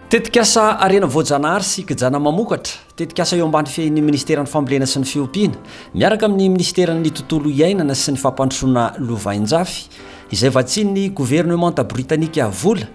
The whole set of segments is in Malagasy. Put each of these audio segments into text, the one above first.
Tetikasa harena voajanahary sy kijana mamokatra, tetikasa eo ambany fehin'ny Ministeran'ny Fambolena sy ny Fiompiana, miaraka amin'ny Ministeran'ny Tontolo Iainana sy ny Fampandrosoana Lovainjafy, izay vatsian'ny governemanta britanika vola,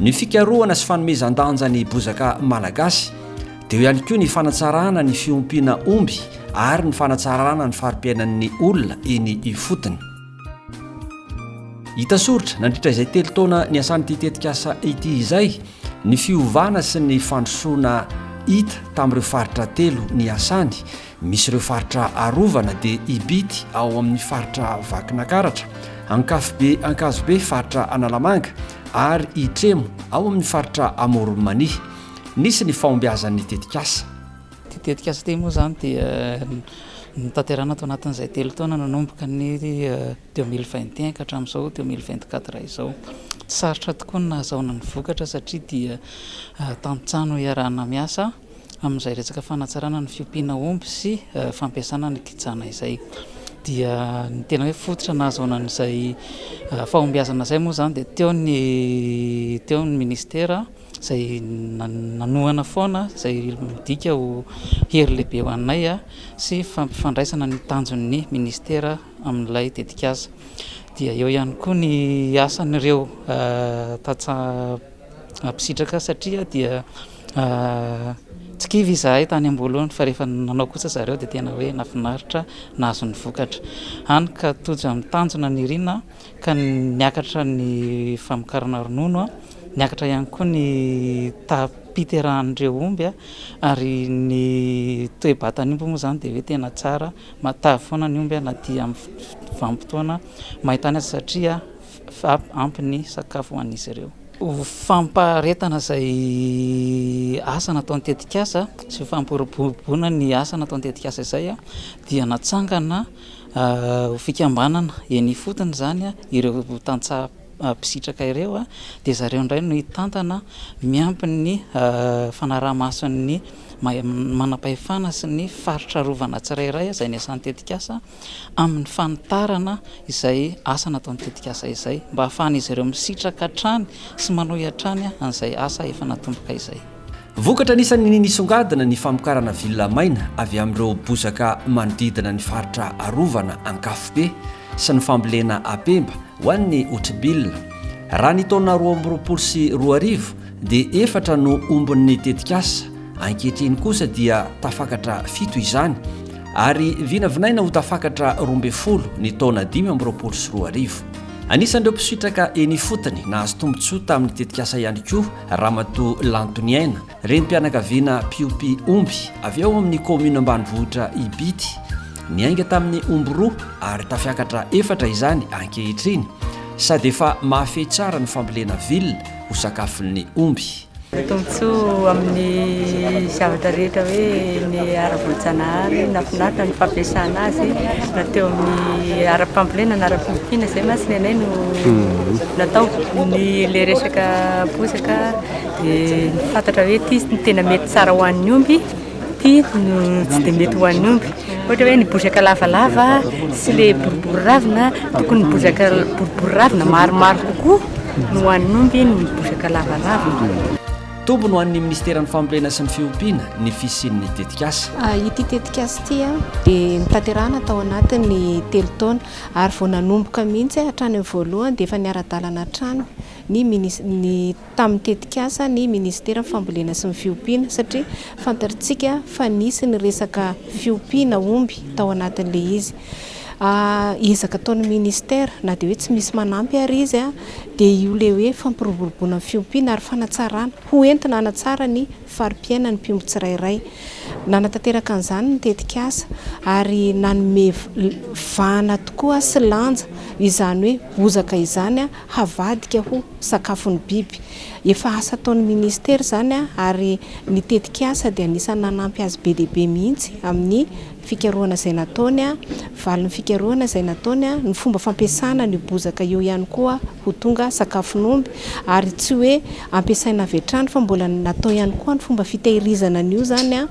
Ny fikarohana sy fanomezan-danja ny bozaka malagasy, dia eo ihany koa ny fanatsarana ny fiompiana omby ary ny fanatsarana ny fari-piainan'ny olona eny ifotony. Hita soritra nandritra izay telo taona niasan'ity tetikasa ity izay ny fiovana sy ny fandrosoana hita tamin'ireo faritra telo niasany. Misy ireo faritra arovana dia Ibity ao amin'ny faritra Vakinakaratra, Ankafobe Ankazobe faritra Analamanga ary Itremo ao amin'ny faritra Amoron'i Mania. Nisy ny fahombiazan'ny tetikasa. Ity tetikasa ity moa izany dia notanterahina tao anatin'izay telo taona nanomboka ny deux mille vingt et un ka hatramin'izao deux mille vingt quatre izao. Tsy sarotra tokoa ny nahazoana ny vokatra satria dia tantsaha no iarahana miasa. amin'izay resaka fanatsarana ny fiompiana omby sy fampiasana ny kijana izay dia ny tena hoe fototra nahazoana an'izay fahombiazana izay moa izany dia teo ny teo ny ministera izay nanohana foana izay midika ho hery lehibe ho anay sy fampifandraisana ny tanjon'ny ministera amin'ilay tetikasa dia eo ihany koa ny asan'ireo tantsaha Nampisitraka ahy satria dia tsy kivy izahay tany am-boalohany fa rehefa nanao kosa ry zareo dia tena hoe nahafinaritra nahazo ny vokatra, hany ka tojo amin'ny tanjona nirina ka niakatra ny famokarana ronono, niakatra ihany koa ny taham-piterahan'ireo omby ary ny toe-batan'ny omby moa izany dia hoe tena tsara, matavy foana ny omby na dia amin'ny vanim-potoana main-tany aza satria fa ampy ny sakafo ho an'izy ireo. Ho fampaharetana izay asa nataon'ny tetikasa sy ho fampiroboroboana ny asa nataon'ny tetikasa izay dia natsangana ho fikambanana eny ifotony izany ireo tantsaha mpisitraka ireo dia zareo indray no hitantana miampy ny fanaraha-mason'ny manam-pahefana sy ny faritra arovana tsirairay izay niasan'ny tetikasa. amin'ny fanitarana izay asa nataon'ny tetikasa izay mba hahafahan'izy ireo misitraka hatrany sy manohy hatrany an'izay asa efa natomboka izay. Vokatra anisan'ny nisongadina ny famokarana villa maina avy amin'ireo bozaka manodidina ny faritra arovana Ankafobe sy ny fambolena apemba ho an'ny Otribila. Raha ny taona roa amby roapolo sy roa arivo dia efatra no ombon'ny tetikasa, ankehitriny kosa dia tafakatra fito izany ary vinavinaina ho tafakatra roa ambin'ny folo ny taona dimy amby roapolo sy roa arivo. Anisan'ireo mpisitraka eny ifotony nahazo tombontsoa tamin'ny tetikasa ihany koa Ramatoa Lantoniaina, renim-pianakaviana mpiompy omby avy ao amin'ny kaominina ambanivohitra Ibity. Niainga tamin'ny omby roa ary tafiakatra efatra izany ankehitriny sady efa mahafehy tsara ny fambolena villa ho sakafon'ny omby. Ny tombontsoa amin'ny zavatra rehetra hoe ny ara-boajanahary, nafinaritra ny fampiasana azy na teo amin'ny ara-pambolena na ara-piofiana izay mantsy ny anay no mhm. natao. Ny le resaka bozaka dia ny fantatra hoe ity ny tena mety tsara ho an'ny omby Ity no tsy dia mety ho an'ny omby. Ohatra hoe ny bozaka lavalava sy ilay boribory ravina, tokony ny bozaka boribory ravina maromaro kokoa no ho an'ny omby noho ny bozaka lavalavina. Toby no an'ny Ministeran'ny Fambolena sy ny Fiompiana ny fisian'ny tetikasa. Ity tetikasa ity dia notanterahina tao anatin'ny telo taona ary vao nanomboka mihitsy hatrany amin'ny voalohany dia efa niara-dalana hatrany ny minis-, ny. tamin'ny tetikasa ny minisiteran'ny fambolena sy ny fiompiana satria fantatrtsika fa nisy ny resaka fiompiana omby tao anatin'ilay izy ezaka ataon'ny minisitera na dia hoe tsy misy manampy ary izy a dia io le hoe fampiroboroboana ny fiompiana ary fanatsarana ho entina hanatsara ny fari-piaina ny mpiompy tsirairay nanatanteraka an'izany ny tetikasa ary nanome vana tokoa sy lanja izany hoe bozaka izany a havadika ho sakafon'ny biby. Efa asa ataon'ny Minisitera izany ary ny tetikasa dia anisan'ny nanampy azy be dia be mihitsy amin'ny fikarohana izay nataony, valin'ny fikarohana izay nataony, ny fomba fampiasana an'io bozaka io ihany koa ho tonga sakafon'omby ary tsy hoe ampiasaina avy hatrany fa mbola natao ihany koa ny fomba fitehirizana an'io izany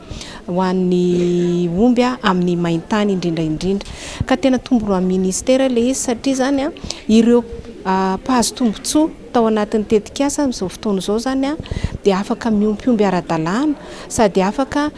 ho an'ny omby amin'ny main-tany indrindra indrindra ka tena tomboroan'ny minisitera ilay izy satria izany ireo mpahazo tombontsoa tao anatin'ny tetikasa amin'izao fotoana izao izany dia afaka miompy omby ara-dalàna sady afaka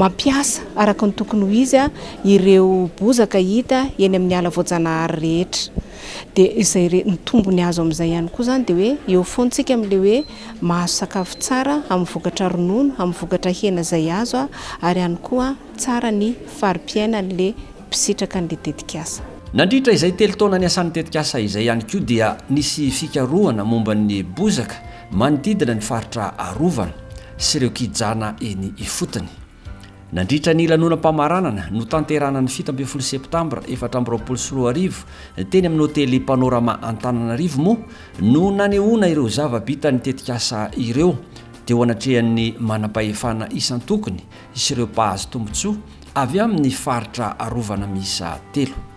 mampiasa araka ny tokony ho izy ireo bozaka hita eny amin'ny ala voajanahary rehetra. Dia izay re, ny tombony azo amin'izay ihany koa izany dia hoe eo foantsika amin'ilay hoe mahazo sakafo tsara amin'ny vokatra ronono, amin'ny vokatra hena izay azo aho ary ihany koa tsara ny fari-piainan'ilay mpisitraka an'ilay tetikasa. Nandritra izay telo taona niasan'ny tetikasa izay ihany koa dia nisy fikarohana momba ny bozaka manodidina ny faritra arovana sy ireo kijana eny ifotony. Nandritra ny lanonam-pamaranana notanterahana ny fito ambin'ny folo septambra efatra amby roapolo sy roa arivo teny amin'ny hotely Panorama Antananarivo moa no nanehoana ireo zava-bitan'ny tetikasa ireo teo anatrehan'ny manam-pahefana isan-tokony sy ireo mpahazo tombontsoa avy amin'ny faritra arovana miisa telo.